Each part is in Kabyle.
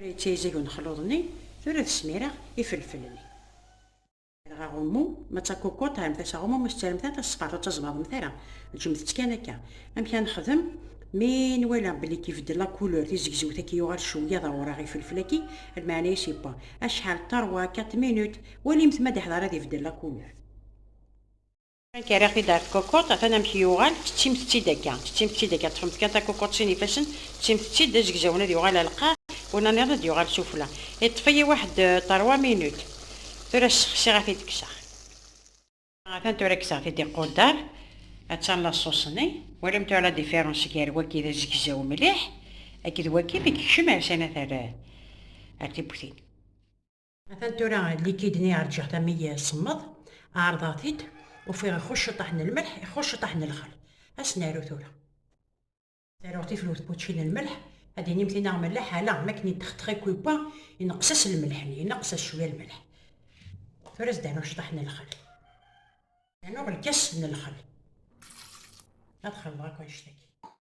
Tura yettayzag unexluḍ-nni, tura ad smireɣ ifelfel-nni. Rɣ aɣummu, ma d takukuṭ terremt-as aɣummu, ma tettarremt ara tasfeḍt ur ttaẓbaḍemt ara, ǧǧemt-tt kan akka. Amek ara nexdem? Mi nwala belli k-ibeddel la couleur, tizegzewt akk yuɣal cwiya d awraɣ ifelfel-agi, lmeɛna-is yewwa acḥal, trois, quatre minutes, walimt ma d-iḥḍer ad ibeddel la couleur. Akka, rriɣ-t-id ɣer tkukut, atan amek yuɣal, tettimt-tt-id akka, tettimt-tt-id akka, ṭṭfemt kan takukut sin ifassen, tettimt-tt-id d azegzawen ad yuɣal ɣer lqaɛ, win-a nniḍen ad yuɣal s ufella. Iṭṭef-iyi waḥed ṭerwa minut. Tura ssexsiɣ ad t-id-kkseɣ. Atan tura kkseɣ-t-id iquddar, atan laṣuṣ-nni. Walam tura la différence gar wagi d azegzaw mliḥ akked wagi mi yekcem ar sani ad t-err ar tiwwtin. Atan tura likid-nni ɛerǧeɣ-t am i semmeḍ, ɛerḍeɣ-t-id, ufiɣ ixuc ciṭaḥ n lmelḥ, ixuc ciṭaḥ n lxal. Ad s-naru tura. Taruɣ tifrut pučči n lmelḥ, ad d-tinim tinna melleḥ, ala, mi akken yeṭxeṭx i kwiwa, ineqqes-as lmelḥ-nni, ineqqes-as cwiya lmelḥ. Tura ad s-d-rnuɣ ciṭaḥ n lxal. Rnuɣ lkas n lxal. Ad xelḍeɣ akk annect-agi.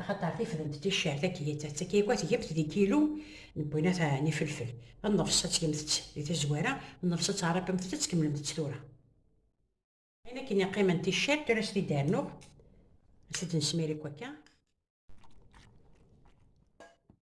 Axaṭer tifdent ticcer takeyyaţ-a tgemt di kilu n winat n ifelfel. Nnefṣ ad tgemt-ţ di tazwara, nnefṣ ad tɛerriqemt-ţ ad tkemmlemt-ţ tura. Ayen akken i qqimen ticcer, tura ad s-t-id-rnuɣ, ad t-id-nesmir akk akka.